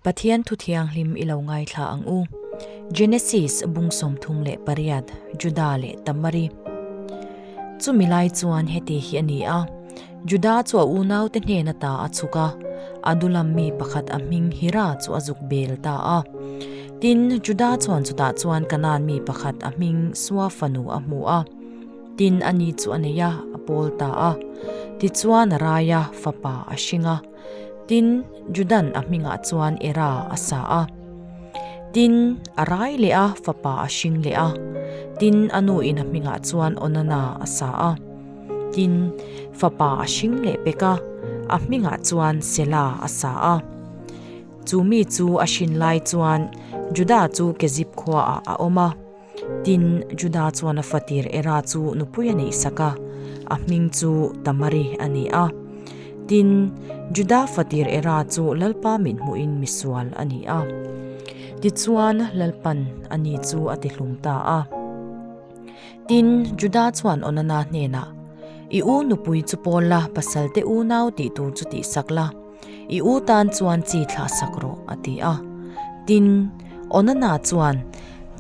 Pathian Thuthianghlim i lo ngaithla ang u. Genesis bung sawmthum leh pariat, Juda leh Tamari. Chumi lai chuan heti hi a ni a, Juda chu a unaute hnena ta a chhuk a, a dulam mi pakhat a hming Hira chu a zuk bel ta a. Tin, Juda chuan chutah chuan Kanaan mi pakhat a hming Suafanu a hmu a. Tin, ani chu a nei a, a pawl ta a. Tichuan a rai a, fapa a hring a. Tin, Judan a hmingah chuan Era a sa a. Tin, a rai leh a, fapa a hring leh a. Tin, a nu in a hmingah chuan Onana a sa a. Tin, fapa a hring leh pek a, a hmingah chuan Sela a sa a. Chu mi chu a hrin lai chuan Juda chu Kezib khuaah a awm a. Tin, Juda chuan a fatir Era chu nupui a nih sak a, a hming chu Tamari a ni a. Tin, Juda fatir Era chu lalpa mithmuhin misual a ni a. Tichuan, lalpan a ni chu a tihlum ta a. Tin, Juda chuan Onana hnenah, I u nupui chu pawl la, pasalte unau tih tur chu tih sak la. I u tan chuan chi thlah sak rawh, a ti a. Tin, Onana chuan,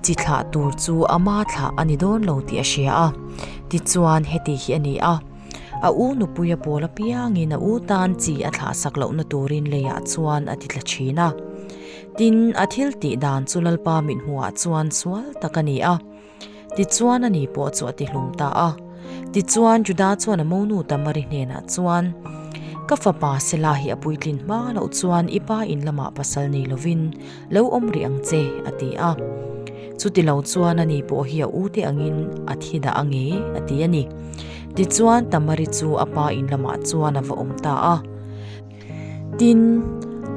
Chi thlah tur chu ama thlah a ni dawn lo tih a hria a. Tichuan, Heti hi a ni a, a u nupui a pawl apiangin a u tan chi a thlah sak lohna turin lei ah chuan a titla thin a. Tin, a thil tih dan chu Lalpa mithmuhah chuan sual tak a ni a. Tichuan a ni pawh chu a tihlum ta a. Tichuan Juda chuan a monu Tamari hnenah chuan, Ka fapa Sela hi a puitlin hma loh chuan i pa in lamah pasal nei lovin lo awm rih ang che, a ti a. Chuti lo chuan a ni pawh hi a ute angin a thi dah ang e, a ti a ni. Tichuan Tamari chu a pa in lamah chuan a va awm ta a. Tin,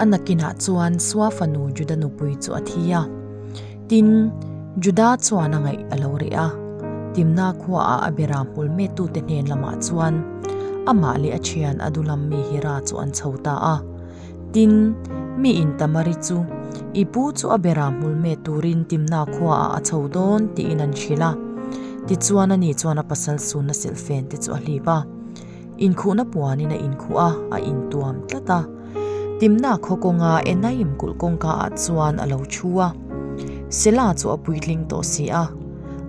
a nakinah chuan Sua fanu Juda nupui chu a thi a. Tin, Juda chuan a ngaih a lo reh a. Timna khuaah a bera hmul mettute hnen lamah chuan amah leh a thian a duhlam mi hi ra chu an chho ta a. Tin, mi in Tamari chu i pu chu a bera hmul met turin Timna khuaah a chho dawn tiin an hrilh a. Tichuan ani chuan a pasal sunna silh fen te chu a hlip a. Inkhuhna puanin a inkhuh a, a intuam tlat a. Timna khaw kawnga Enaim kulh kawngka ah chuan a lo thu a. Sela chu a puitling tawh si a,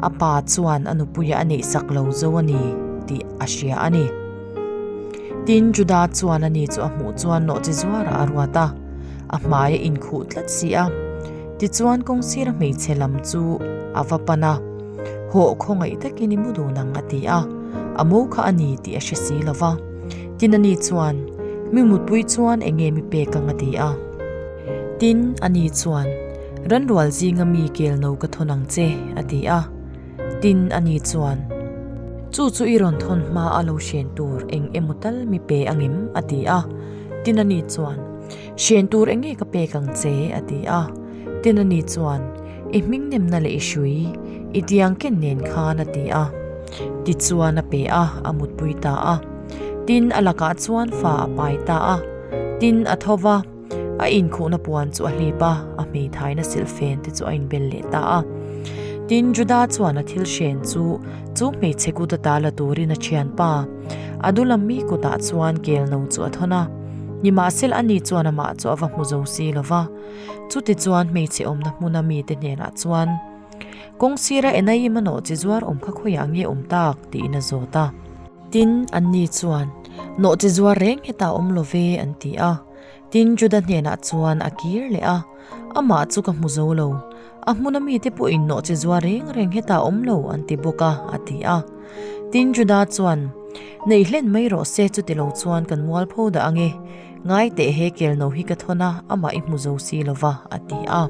a pa chuan a nupuia a neihsak lo zo a ni tih a hria a ni. Tin, Juda chuan a ni chu a hmuh chuan nawh chi zuarah a ruat a, a hmai a inkhuh tlat si a. Tichuan kawng sira hmeichhe lam chu a va pan a. Haw khawngaih takin i mu dun ang a ti a, a mo kha a ni tih a hre si lo va. Tin a ni chuan, Mi mutpui chuan eng nge mi pek ang a ti a. Tin a ni chuan, Ranrual zinga mi kel no ka thawn ang che a ti a. Tin a ni chuan, Chu chu i rawn thawn hma a lo hrian tur eng emaw tal mi pe ang em a ti a. Tin a ni chuan, Siain tur eng nge ka pek ang che a ti a, Tina ni chuan i hmingnemna leh i hrui i diang ken nen khan a ti a, tichuan a pe a, a mutpui ta a, tin a lakah chuan fa a pai ta a, tin a tho va, a inkhuhna puan chu a hlip a, a hmeithaina silhfen te chu a inbel leh ta a, tin Juda chuan a thil hriain chu chu hmeichhe kut ata la turin a thianpa, a dulam mi kutah chuan kel no chu a thawn a. Nimahsela a ni chuan amah chu a va hmu zo si lo va. Chuti chuan hmeichhe awmna hmuna mite hnenah chuan, Kawng sira enai i manaw chi zuar awm kha khawiah nge awm tak? tiin a zawt a. Tin, anni chuan, Naw chi zuar reng hetah awm lo ve, an ti a. Tin, Juda hnenah chuan a kir leh a, Amah chu ka hmu zo lo. A hmuna mite pawh in nawh che zuar reng reng hetah awm lo an ti bawk a, a ti a. Tin Juda chuan, Nei hlen mai rawh se, chuti lo chuan kan mual pho dah ange. Ngai teh he kelno hi ka thawn a, amah i hmu zo si lova, a ti a.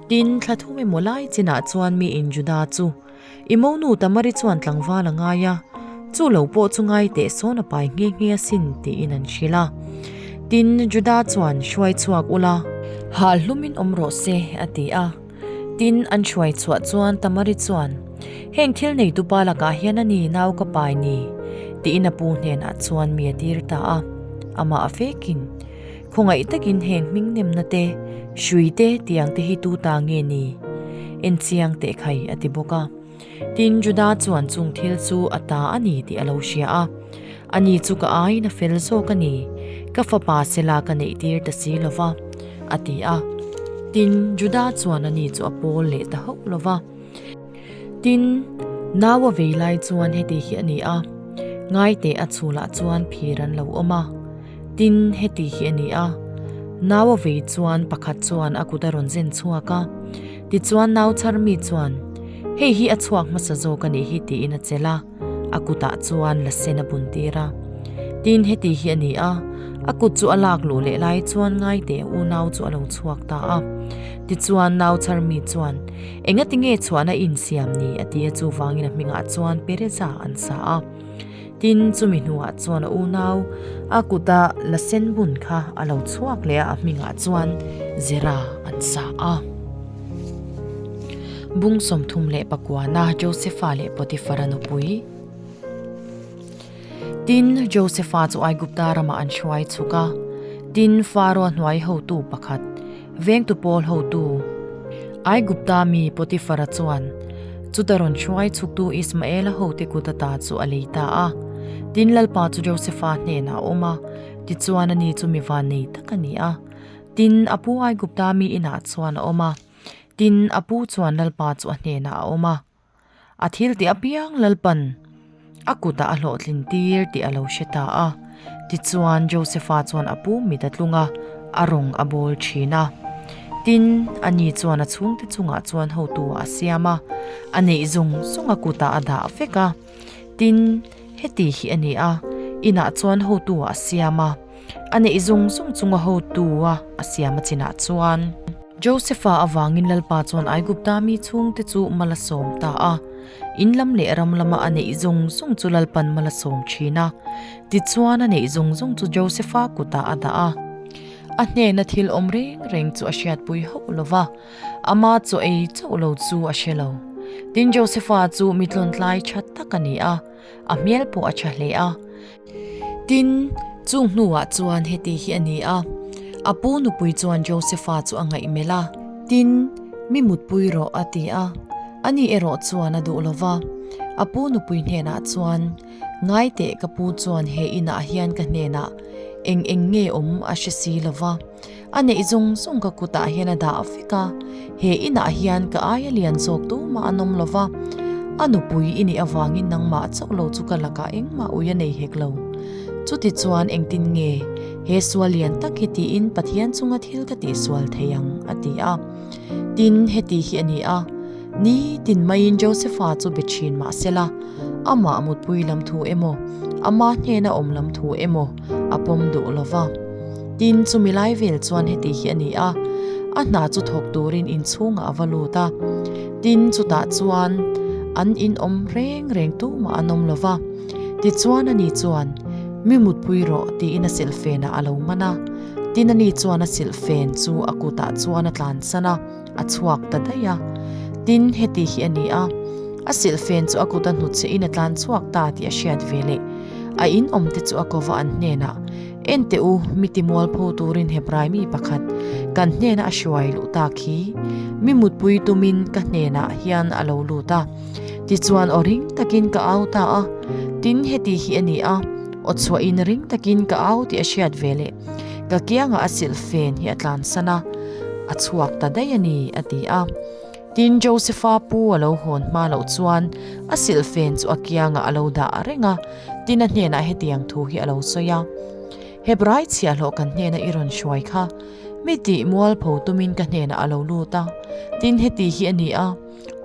Tin, thla thum emaw lai chinah chuan mi in Juda chu, I monu Tamari chuan tlangval a ngai a, chu lo pawh chu ngai teh sawn a pai nghe nghe a sin tiin an hrilh a. Tin, Juda chuan hruai chhuak ula. Hal hlumin awm rawh se, a ti a. Tin, an hruai chhuah chuan Tamari chuan, Heng thil nei tupa lakah hian a ni nau ka pai ni, tiin a pu hnenah chuan mi a tir ta a. Amah vekin. Khawngaih takin heng hmingnemna te, hrui te tiang te hi tu ta nge ni? Enchiang teh khai a ti bawk a. Tin, Judah chuan chung thil chu a ta a ni tih a lo hria a. A ni chu ka aiin a fel zawk a ni. Ka fapa sela ka neihtir ta si lo va, a ti a. Tin, Judah chuan a ni chu a pawl leh ta hauh lo va. Tin, Naua vei lai chuan heti hi a ni a, Ngaite a chhûlah chuan phîr an lo awm a. Tin, heti hi a ni a, Naua vei chuan pakhat chuan a kut a rawn zen chhuak a. Tichuan, nauchhar mi chuan, Hei hi a chhuak hmasa zâwk a nih hi, tiin a chelh a. a kutah chuan la sen a bun tir a. Tin heti hi a ni a, a kut chu a lak luh leh lai chuan ngaite u nau chu a lo chhuak ta a. Tichuan nauchar mi chuan, Enga tinge chhuahna i insiam ni? a ti a, chuvangin a hmingah chuan pereza an sa a. Tin, chumi hnuah chuan a u nau a kuta la sen bun kha a lo chhuak leh a, a hmingah chuan zera an sa a. Bung sawmthum leh pakuana Josepha leh Potiphara nupui. Tin, Josepha chu Aigupta ramah an hruai chhuk a. Tin, Faro a hnuai hotu pakhat, vengtu pawl hotu Aigupta mi Potiphara chuan chuta rawn hruai chhuktu Ismaela hote kut ata chu a lei ta a. Tin, Lalpa chu Josepha hnenah a awm a, tichuan ani chu mi vannei tak a ni a. Tin, a pu ai Gupta mi inah chuan a awm a. Tin, a pu chuan Lalpa chu a hnenah a awm a. A thil tih apiang Lalpa'n a kutah a hlawhtlin tir tih a lo hre ta a. Tichuan, Josepha chuan a pu mit a tlung a, a rawn a bawl thin a. Tin, ani chuan a chhungte chungah chuan hotu a siam a, a neih zawng zawng a kutah a dah vek a. Tin, heti hi a ni a, inah chuan hotu-a a siam a, a neih zung zung chunga hotu-a a siam a chinah chuan. Joseph-a avangin Lalpa chuan Aigupta mi chhungte chu mal a sawm ta a, in lam leh ram lama a neih zung zung chu Lalpa'n mal a sawm thin a. Tichuan, a neih zung zung chu Joseph-a kutah a dah a. A hnena thil awm reng reng chu a hriatpui hauh lo va. Ama chu ei chauh lo chu a hre lo. Tin Josepha chu mitlawntlai tha tak a ni a, a hmel pawh a tha hle a. Tin, chung hnuah chuan heti hi a ni a, a pu nupui chuan Josepha chu a ngaih melh a. Tin, mi mutpui rawh a ti a, a nih erawh chuan a duh lo va. A pu nupui hnenah chuan, Ngai teh, ka pu chuan he inah hian ka hnenah eng eng nge awm a hre si lo va. a neih zung zung ka kutah hian a dah vek a, he inah hian ka aia lian zawk duma an awm lova, a nupui i nih avangin nangmah chauh lo chu ka lakah engmah ui a nei hek lo. Chutichuan engtin nge he sual lian tak hi tiin Pathian chunga thil ka tih sual thei ang, a ti a. Tin, heti hi a ni a, ni tin maiin Josepha chu be thin mahsela, amah mutpui lam thu emaw, ama hnena awm lam thu emaw, a pawm duh lo va. Tin, chumi lai vel chuan heti hi a ni a, a hna chu thawk turin inchhungah a va lut a. Tin, chutah chuan an inawm reng reng tumah an awm lo va. Tichuan, ani chuan, Mi mutpui rawh, tiin a silhfenah a lo man a. Tin, ani chuan a silhfen chu a kutah chuan a tlansan a. a chhuak ta daih a, tin heti hi a ni a, A silh fen chu a kuta hnut che in a tlan chhuak ta tih a hriat ve le, a in awm te chu a ko va an hnen ah, Enteh u, mi timual pho tur in Hebrai mi pakhat kan hnen ah a hruai luh tak hi, mi mutpui tum in ka hnen ah hian a lo lut a, ti chuan aw ring tak in ka au ta a, tin heti hi a ni a, aw chhuah in ring tak in ka au tih a hriat ve le. Ka kiangah a silh fen hi a tlansan a, a chhuak ta daih a ni, a ti a. Tin, Josepha pu a lo hawn hma loh chuan a silh fen chu a kiangah a lo dah a reng a, tin a hnenah hetiang thu hi a lo sawi a, Hebrai chhiahhlawh kan hnena i rawn hruai kha, mi tih mualpho tumin ka hnenah a lo lut a, tin heti hi a ni a,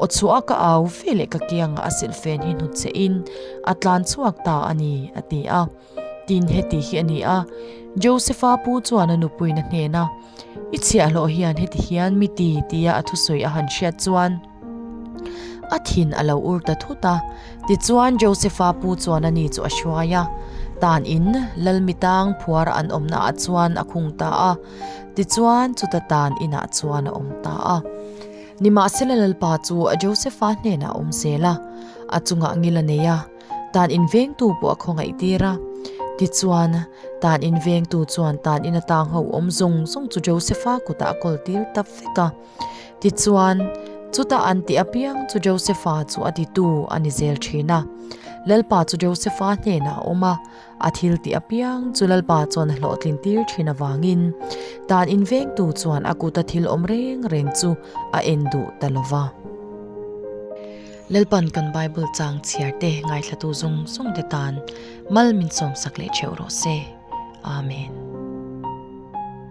Aw chhuah, ka au veleh ka kiangah a silh fen hi hnut che in a tlan chhuak ta a ni, a ti a. Tin heti hi a ni a, Josepha pu chuan a nupuina hnena, I chhiah hlawh hian heti hian mi ti tia a thusawi a han hriat chuan a thin a lo ur ta thut a. Tichuan, Josepha pu chuan a ni chu a hruai a. Tan in, Lalmitang phuara an awmna ah chuan a khung ta a. Tichuan, chuta tan inah chuan a awm ta a. Nimahsela Lalpa chu a Josepha hnenah a awm zel a, a chungah ngil a nei a. Tan invengtu pawh a khawngaih tir a. Tichuan, tan invengtu chuan tan ina tang ho awm zawng zawng chu Joseph-a kutah a kawl tir tap vek a. Tichuan, chuta an tih apiang chu Joseph-a chu a titu a ni zel thin a. Lalpa chu Joseph-a hnenah a awm a. A thil tih apiang chu Lalpa chuan a hlawhtlin tir thin avangin dan invengtu chuan a kuta thil awm reng reng chu a en duh ta lo va. Lalpa'n kan Bible chang chhiar te, ngaithlatu zawng zawng te tan mal min sawmsak leh theuh rawh se. Amen.